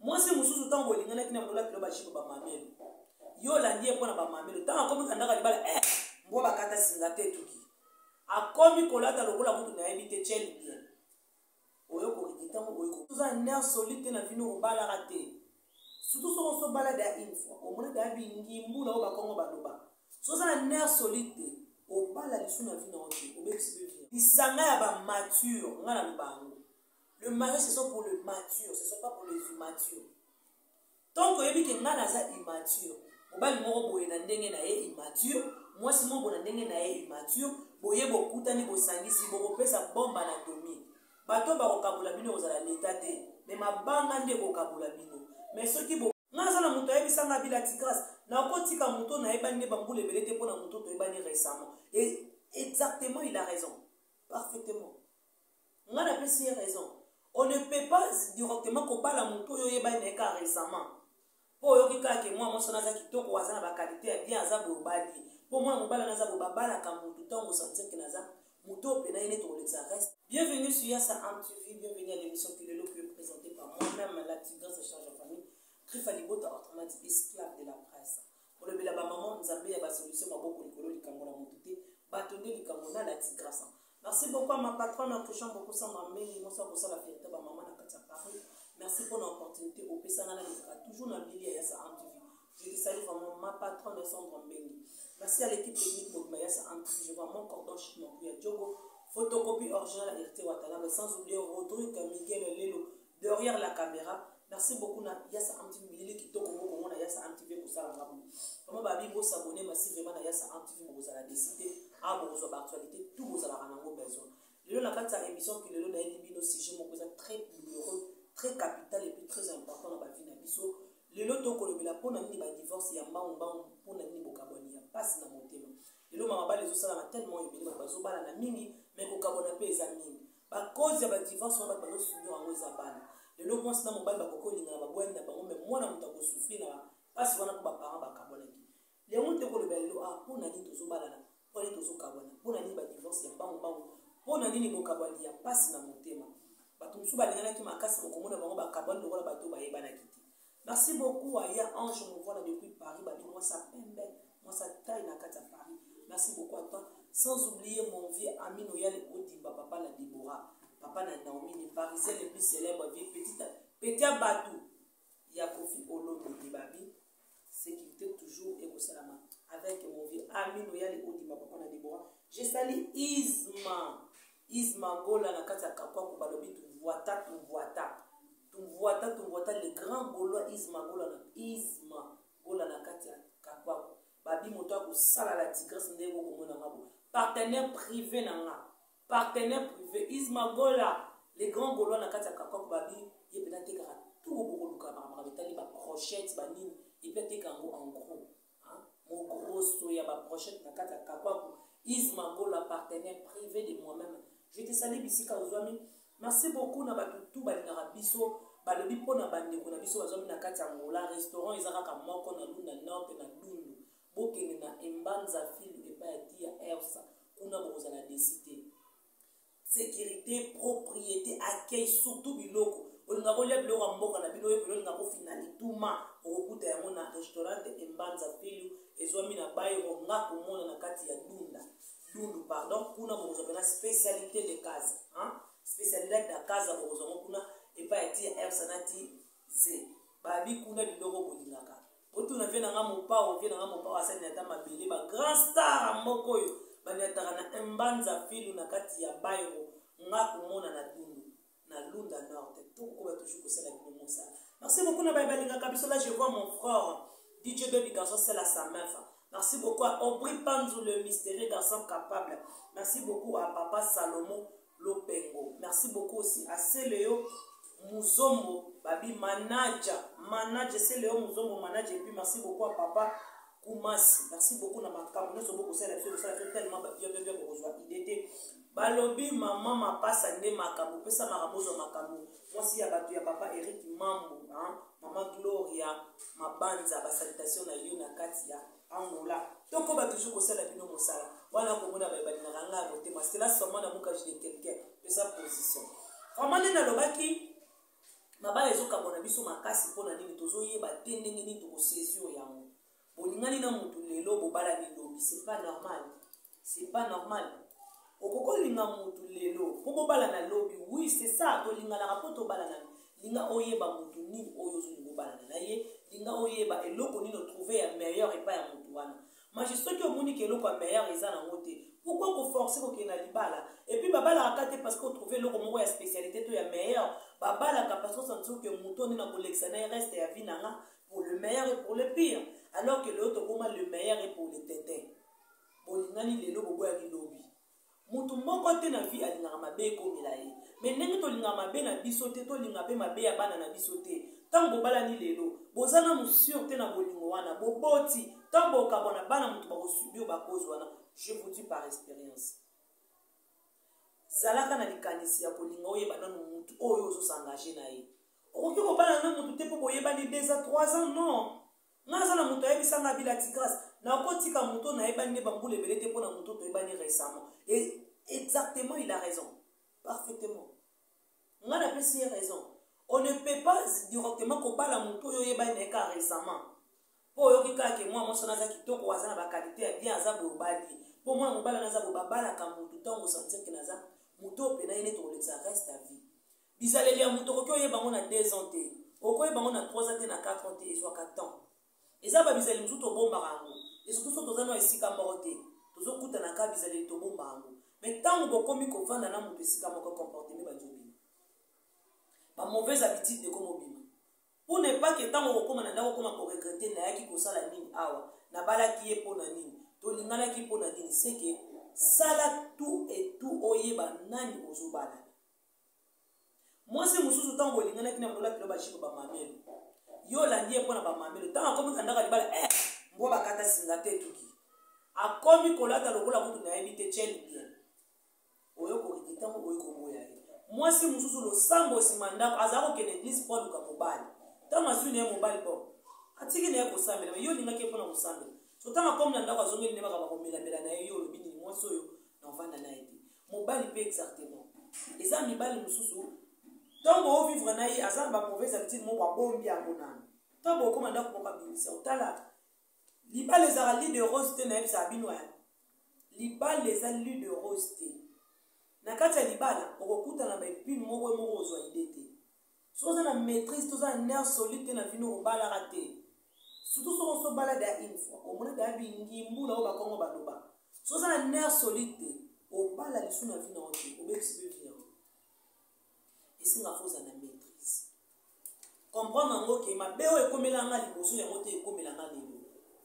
mwasi mosusu ntango bolinganaki na bolola kilo bajipe bamamelo yo olandi ye mpo na bamamelo ntango akomi kandaka libala e eh, mbwa bakata singa te etuki akomi kolata lokola kutu nayebi te cel bien oyo kokiki ntango oyokoza ner solide te na vino obalaka te surtout soki oso obala da une fois omona da bingimbu na oyo bakongo baloba soza na ner solide te obala lisu na vino oyo te obebisi pe lisanga ya bamature ngai naloba yango le mariage ce sont pour le mature ce sont pas pour les immatures tant koyebi ke ngai naza immature mobali moko boye na ndenge na ye immature mwasi moko na ndenge na ye immature boye bokutani bosangisi bokopesa bomba na domi bato oyo bakokabola bino ekozala leta te me mabanga nde ekokabola bino me soki bo nga aza na moto ayebisanga bila tigrase nakotika moto nayebani nde bambula ebele te mpo na moto toyebani récemment e, exactement il a raison parfaitement nga napesi ye raison on ne peut pas directement kobala motu oyo oyebani na ye kaka récemment mpo oyoki kaka ke mwana mwasi wana aza kitoko aza na bakalite ya bien aza boye obali ye mpo mwana mobali wana aza boye babalaka motu ntango osentir ke naza motu oyo mpena ye neti okolekisa reste bienvenue sur yasa amtv bienvenue à l'émission kilelo que présenté par moi-même la tigresse charge en famille krifa libota autrement dit esclave de la presse kolobela ba maman nzambe ya ba solution maboko likolo likambo na moto te bato nde likambo na lati grasa merci beaucoup à ma patronne en touchant beaucoup sans ma mei moso akosala fierté ba maman na kati ya paris merci mpo na opportunité opesanga na lizaka toujours na bilia ya sa antv je te salue vraiment ma patronne sandra mbengi merci à l'équipe technique mobima ya sa antv je vois mon cordon chic mon ya djogo photocopie original hérité watalaba sans oublier rodrigue miguel lelo derrière la caméra merci beaucoup na yasa amtv bilili kitoko bokomona yasa amtv ekosala nga boye vraiment babi bosabone masi vraiment na yasa amtv bokozala desite awa bokozwa baactualité tout bozalaka nango besoin lelo na kati ya émission ki lelo nayebi bino sujet moko eza très douloureux très capital et puis très important na bavi na biso lelo tokolobela mpo na nini badivorce ya mbangu mbangu mpo na nini bokabwani ya mpasi na motema lelo mama bala ezosalama tellement ebele bato bazobalana mingi me kokabwana mpe eza mingi ba cause ya ba divorce wana bato bazo subir yango eza bana lelo mwasi na mobali bakoki kolingana babwani na bango me mwana moto akosufri na mpasi wana mpo baparent bakabwanaki yango te kolobela lelo a ah, mpo na nini tozobalana mpo na nini tozokabwana mpo na nini badivorce ya mbangu mbangu mpo na nini bokabwani ya mpasi na motema bato mosusu balinganaki makasi mokomona bango bakabwani lokola bato bayebanaki te Merci beaucoup à Ya Ange Movola depuis Paris, Babi Mwasa Pembe, Mwasa Taille na Kata Paris. Merci beaucoup à toi. Sans oublier mon vieux ami Noyal Odimba, papa na Deborah, papa na Naomi, les Parisiens les plus célèbres, vieux petit, petit Batou, Ya Kofi Olomide de Babi, sécurité toujours et Mosalama. Avec mon vieux ami Noyal Odimba, papa na Deborah. Je salue Isma, Isma Gola na Kata Kakwa, Kubalobi, Tuvuata, Tuvuata. Tumvuata tumvuata le grand golois Isma Gola na Isma Gola na kati ya Kapaku. Babi moto akosala la tigresse ndenge bokomona nga bo. Partenaire privé na nga. Partenaire privé Isma Gola le grand golois na kati ya Kapaku babi ye mpe natekaka tout bokoluka makambo etali ba crochette banini epe ateka yango en gros Mogrosso ya ba brochette na kati ya kakwaku is magola partenaire privé de moi-même je te sali bisika ozwami merci beaucoup na bato tu balingaka biso balobi mpo na bandeko na biso bazwami na kati ya ngola restaurant eza kaka moko na luna nord na dundu bokende na embanza fil epai ya tia ersa kuna bokozala desi te securite propriété accueil surtout biloko olinga kolia biloko ya mboka na bino oyebeli olinga kofina lituma okokuta yango na restaurant embanza pilu ezwami na bairo nga komona na kati ya dunda dundu pardon kuna bokozwa mpena spécialité de casa spécialité de casa bokozwa yango kuna epai ya ti ya ersa na ti ze babi kuna biloko bolingaka botuna vie na nga mopao vie na nga mopao asali na ata mabele ba grand star moko oyo baniataka na embanza filu na kati ya bairo nga komona na dundu na lunda nord tokokoba toujours kosala bino mosala merci beaucoup na baye balingaka biso la je vois mon frère dj baby garçon sela sa mefa Merci beaucoup à Aubry Panzou, le mystérieux garçon capable. Merci beaucoup à Papa Salomon, lopengo merci beaucoup aussi asele yo muzombo babi manaja manaja esele yo muzombo manaja epuis merci beaucoup a papa kumasi merci beaucoup na makambo nyonso bokosala biso kosala biso tellement babiabebia bokozwa ide te balobi mama mapasa nde makambo pesa makambo ozwa makambo mwasi ya bato ya papa eric mambo mama gloria mabanza basalitation na yo na kati ya Angola tokoba toujours kosala bino mosala wana komona baye balingaka ngai motema cela seulement na bokage de quelqu'un eza position vraiment nde nalobaki mabala ezokabona biso makasi mpo na nini tozoyeba te ndenge nini tokosaisir yango bolingani na motu lelo bobalani lobi c'est pas normal c'est pas normal okoki olinga motu lelo mpo bobalana lobi oui c'est ça tolinganaka mpo tobalana linga oyeba motu nini oyo ozongi kobalana na ye linga oyeba eloko nini otrouve ya meilleur epai ya motu wana maji soki omoni ke eloko ya meilleur eza nango te pourkoi koforce kokende na libala epuis babalaka ka te parce que otrouve eloko moko ya spécialité to ya meilleur babalaka parce que osanti soki motu oyo nde nakolekisa na ye reste ya vie na nga pour le meilleur et pour le pire alors que lelo tokoma le meilleur et pour le tete bolingani lelo boboyani lobi moto moko te na vie alingaka mabe ekomela ye me ndenge tolingaka mabe na biso te tolinga mpe mabe ya bana na biso te ntango bobalani lelo boza nanu sur te na bolingo wana boboti ntango bokabwa na bana moto bakosubir bakozi wana je vous dis par expérience zalaka na likanisi ya kolinga oyeba nanu motu oyo ozosangage na ye okoki kobala na motu te mpo boyebani 2 a 3 ans non nga naza na moto ayebisa nga bila tigrace nakotika moto nayebani nde bambula ebele te mpo na moto toyebani récemment e exactement il a raison parfaitement nga napesi ye raison on ne peut pas directement kobala moto oyo oyebani naye kaka récemment mpo oyoki kaka ke mwana mwasi wana aza kitoko aza na bakalite ya bien aza boye obali ye mpo mwana mobali wana aza boye babalaka motu ntango osantirke naza moto oyo mpena ye neti kolekisa reste ya vie Bizaleli ya moto okoki oyeba yango na 2 ans te. Okoyeba yango na 3 ans te na 4 ans te ezwaka temps. Eza ba bizaleli mosusu tobombaka yango. Et surtout soki toza na esika moko te. Tozokutana kaka bizaleli tobomba yango. Mais ntango bokomi kovanda na moto esika moko comportement bandi obima. Ba mauvaises habitudes de komo bima. Pour ne pas que ntango okokoma na ndako okoma koregrete nayaki kosala nini awa nabalaki ye mpo na nini tolinganaki mpo na nini seke sala tout et tout oyeba nani ozobala mwasi mosusu ntango bolinganaki na bolola kilo bajipe bamamelo yo olandi ye mpo na bamamelo ntango akomi kandaka libala e eh, mbwa bakata singa te etuki akomi kolata lokola kutu nayebi te tiel bien oyo kokiki ntango oyo koboya ye mwasi mosusu losambo nsima ndako azala kokende eglise mpo aluka mobali ntango azwi na ye mobali bo atiki na ye kosambela me yo olingaki ye mpo na kosambela so ntango akomi na ndako azongeli nde bakaba komelamela na ye yo olobi nini mwasi oyo na ovanda na ye te mobali mpe exactement eza mibali mosusu ntango ovivre na ye aza na bamauvaise habitude moko abombi yango nano ntango okoma ndako moko abimisa otala libala ezaka li de rose te nayebisaka bino ya libala eza li de rose te na kati ya libala okokutana baepine moko moko ozwa ide te soki oza na maîtrise toza na nerf solide te na vino obalaka te surtout soki oso obala da une fois omona da bingimbula oyo bakongo baloba soki oza na nerf solide te obala lisu na vino ote obebisi mpe vino yango esenga fo oza na maîtrise comprendre yango ke mabe oyo ekomela nga liboso yango te ekomela nga lelo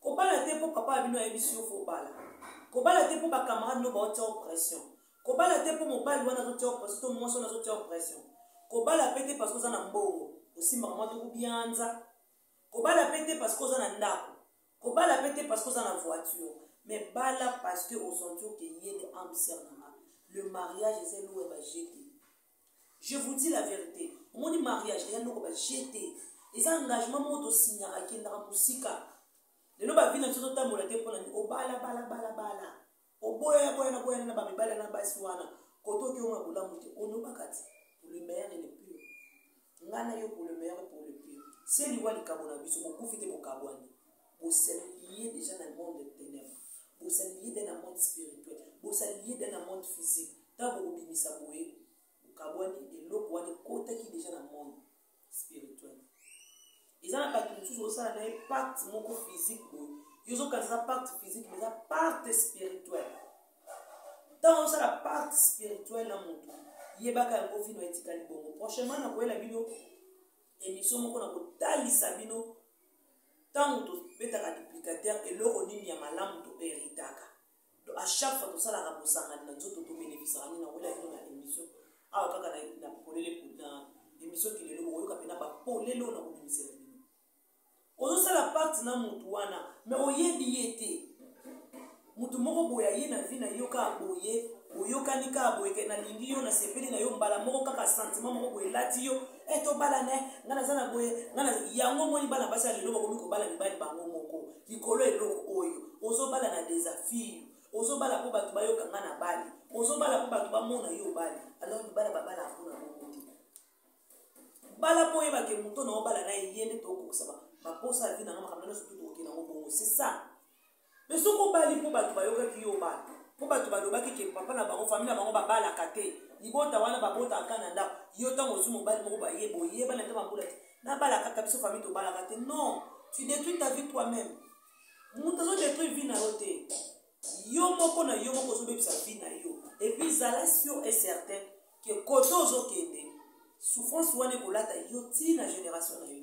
kobala te mpo papa ya bino ayebisi yo fobala kobala te mpo bacamarade no baotia yo pression kobala te mpo mobali wana azotia yo pression to mwasi wana azotia yo pression kobala mpe te parce oza na mbongo osimbaka mwa tokubianza kobala mpe te parce oza na ndako kobala mpe te parce oza na voiture mais bala parce que osentir ke ye nde ambiser nanga le mariage eza eloko ya bajete je vous dis la vérité omoni mariage eza ndoko baje te eza engagement moko tosignaka kendaka mosika lelo bavi na biso totambola te mpo na nini obalabalabala oboya boya na boya na bamibala na basi wana koto okioma bolamu te olobaka ti pour le meilleur et le pire ngai na yo pour le meilleur et pour le pire se liwa likabo na biso bokufi te bokabwani boselie deja na monde tenèbre bozali liye na monde spirituel bozali liye na monde physique ntango bokobimisa boye bokabwani eloko wana ekotaki deja na monde spirituel eza na bato mosusu osala na ye pacte moko physique boye yo ozokanisa eza pacte physique mais eza pacte spirituel ntango osala pacte spirituel na motu yebaka yango vino etikali bongo prochainement nakoyela bino emission moko na kotalisa bino ntango tobetaka duplicateur eloko nini ya malamu toheritaka to à chaque fois tosalaka bosangani na nzoto tobenefisaka nini nakoyela bino na émission awa kaka na polele na émission kilelo bokoyoka mpena bapolele oyo nakobimisela bino ozosala pacte na motu wana me oyebi ye te moto moko boye aye na vie na yo kaka boye oyokani kaka boye ke nalingi yo nasepeli na yo mbala moko kaka sentiment moko boye elati yo e eh, tobalane ngai naza na boye ngai yango omoni bana basi ya lelo bakomi kobala mibali bango moko likolo eloko oyo ozobala na desafio ozobala mpo bato bayoka ngai na bali ozobala mpo bato bamona yo obali alors libala babala mpona moko te bala mpo oyebake moto na obala na ye nde tokokisa baposa ya vi na ngai makambo nyonso tokokende yango bongo c'est ça mais soki obali mpo bato bayokaki yo bato mpo bato balobaki ke papa na bango famille na bango babalaka te libota wana babotaka kaka na ndako yo ntango ozwi mobali moko baye boyebana ata bambula te nabala kaka biso famille tobalaka te non tu détruis ta vie toi même moto azodétruire vie na yo te yo moko na yo moko ozobebisa vie na yo epuis zala sur et certain ke kote ozokende souffrance wana ekolata yo ti na génération na yo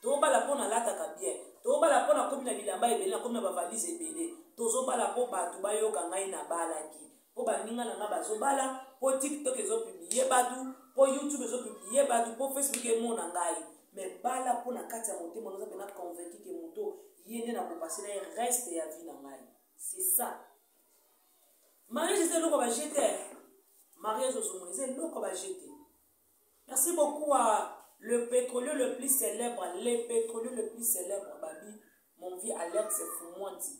tobala mpo nalataka bien tobala mpo nakomi na bilamba ebele nakomi na bavalise ebele tozobala mpo bato bayoka ngai nabalaki mpo baninga na ngai bazobala mpo tiktok ezopiblie bato mpo youtube ezopiblie bato mpo facebook emona ngai me bala mpo na kati ya motema noza mpena convaincu ke moto ye nde nakopase na ye reste ya vie na ngai c'est ça mariage eza eloko bajete mariage ozomona eza eloko bajete Merci beaucoup à le pétrolier le plus célèbre, les pétroliers le plus célèbre, Babi, mon vieux Alex Fumwanti,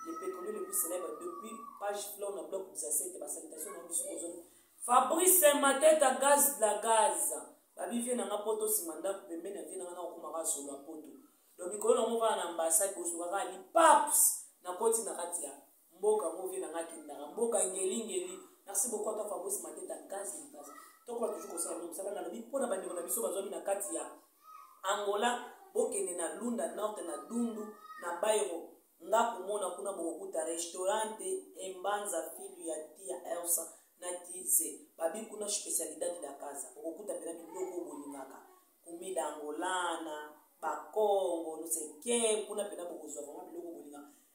le pétrolier le plus célèbre depuis page flow na bloc des assiettes, ma salutation na biso ozoni. Fabrice Mateta gaz de la gaz. Babi vie nanga poto sima ndaku pembe na vie nanga na okuma ka solo poto. Donc mikolo na mova na ambassade bosukaka ni paps na koti na kati ya mboka yango vie na ngai akendaka mboka ngelingeli merci beaucoup ata fabrice mateta gaz na gaz tokola toujours kosala no mosala nalobi mpo na bandeko na biso bazwami na kati ya angola bokende na lunda norte na dundu na bairo nga komona kuna bokokuta restaurante embanza filu ya tia elsa na tize babi kuna specialidade da casa okokuta mpena biloko bolingaka kumida angolana bakongo noseke kuna mpena bokozwa vraimen biloko bolingaka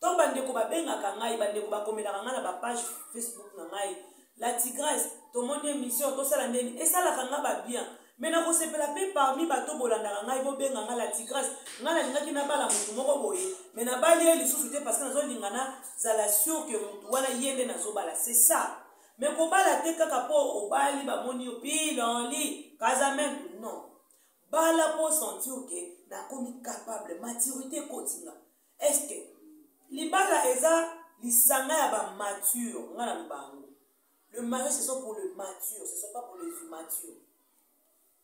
to bandeko babengaka ngai bandeko bakomelaka ngai na bapage facebook na ngai la tigresse tomoni émission tosala ndeni esalaka ngai babien me nakosepela mpe parmi bato bolandaka ngai bobenga ngai la tigresse ngai nalingaki nabala motu moko boye me nabali ye lisusu te parce que nazolinga na zala sur ke motu wana ye nde nazobala c'est ça me kobala te kaka mpo obali bamoni yo pilanli kazamentu non bala mpo sentir ke nakomi capable maturité ekotinga est-ce que libala eza lisanga ya ba mature nga na bango le mariage ce sont pour le mature ce sont pas pour les immatures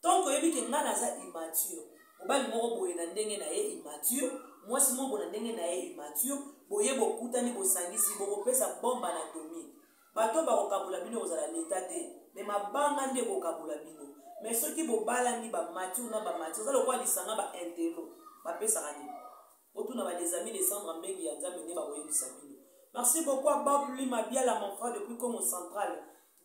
tant que oyebi ke nga naza immature mobali moko boye na ndenge na ye immature mwasi moko na ndenge na ye immature boye bokutani bosangisi bokopesa bomba na domi bato oyo bakokabola bino ekozala leta te me mabanga nde ekokabola bino me soki bobalani bamature na bamature eza lokola lisanga baintelo bapesaka nini otuna badesami descendre mbengi ya nzambe nde bakoyebisa bino merci beaucoup a bob lima biala mon frère depuis congo central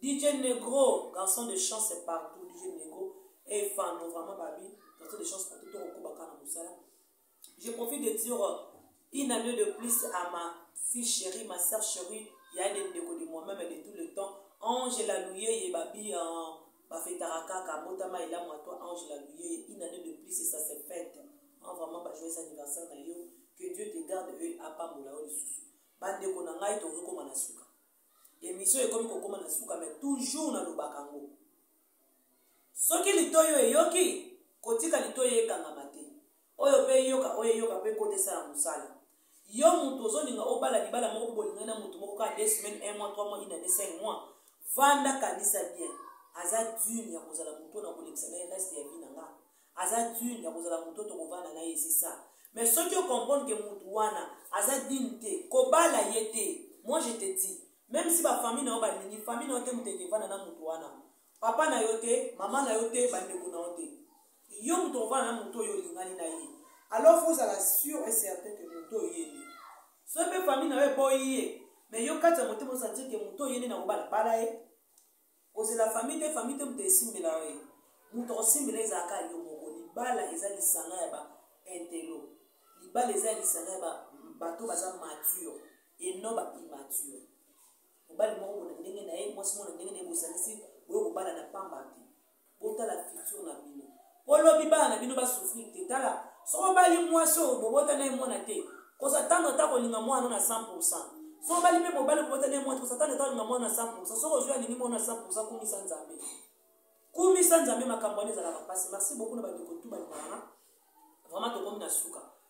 dj negro garçon de chance partout dj negro efano vraiment babi garçon de chance partout tokokobaka na mosala je profite de dire une année de plus à ma fille chérie ma sœur chérie ya de ndeko de moi-même de tout le temps angela luyeye babi uh, bafetaka kaka botama elamu ya toi angela luyeye une année de plus ça se fête en vraiment bajoyeux anniversaire na yo que dieu te garde e apambola yo lisusu bandeko na ngai tozokoma na suka emission ekomi kokoma na suka mai toujours nalobaka yango soki litoi oyo eyoki kotika litoi ekangama te oyo mpe eyoka oyo eyoka mpe kota esala mosala yo moto ozolinga obala libala moko bolingani na moto moko kaka de semaine un mois trois mois inane cinq mois vanda kanisa bien aza dune ya kozala moto na kolekisa na ye reste ya vi na nga aza digne ya kozala moto oyo tokovanda na ye c'est ça mais soki ocomprendre ke motu wana aza digne te kobala ye te moi je te dis même si bafamille na yo balingi famille na yo te moto ekevanda na motu wana papa na yo te mama na yo te bandeko na yo te yo moto ovanda na moto oyo olingani na ye alors fo ozala sur et certain ke moto oyo yende so mpe famille na yo eboyi ye mais yo kati ya motema osanti ke moto oyo yende na kobala bala ye kozela famille te famille te moto esimbela yo ye moto akosimbela ezalaka yo moko libala eza lisanga ya ba intelo libala eza ya lisanga ya bato baza mature et non ba immature mobali moko na ndenge na ye mwasi moko na ndenge na ye bosanisi boye kobala na pamba te botala futur na bino po lobi bana na bino basouffrir te tala soki obali mwasi oyo bobota na ye mwana te kosatando ata kolinga mwana na 100 pourcent soki obali mpe mobali bobota na ye mwana te kosatando ata kolinga mwana na 100 pourcent soki ozwi alingi mwana na 100 pourcent kumisa nzambe kumisa nzambe makambo wana ezalaka mpasi merci beaucoup na bandeko tu balingaka vraiment tokomi na suka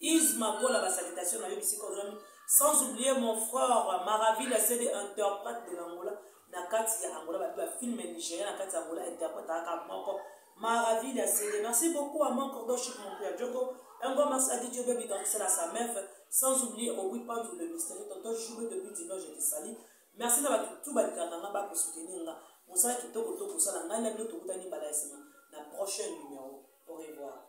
Is Makola ba salutation na yo bisika ozwami sans oublier mon frère Maravilla c'est de interprète de l'Angola na kati ya Angola babi ba film nigérien na kati ya Angola interprète aka moko Maravilla c'est de merci beaucoup à mon cordon chic mon père Djoko un grand merci à DJ Baby dans c'est la sa meuf sans oublier au oui Pandou le mystérieux tonton Joubé depuis Dino je te salue merci na bato tout balikaka nga bako soutenir nga mosala kitoko to kosala ngai na bino tokutani mbala ya nsima na prochain numéro au revoir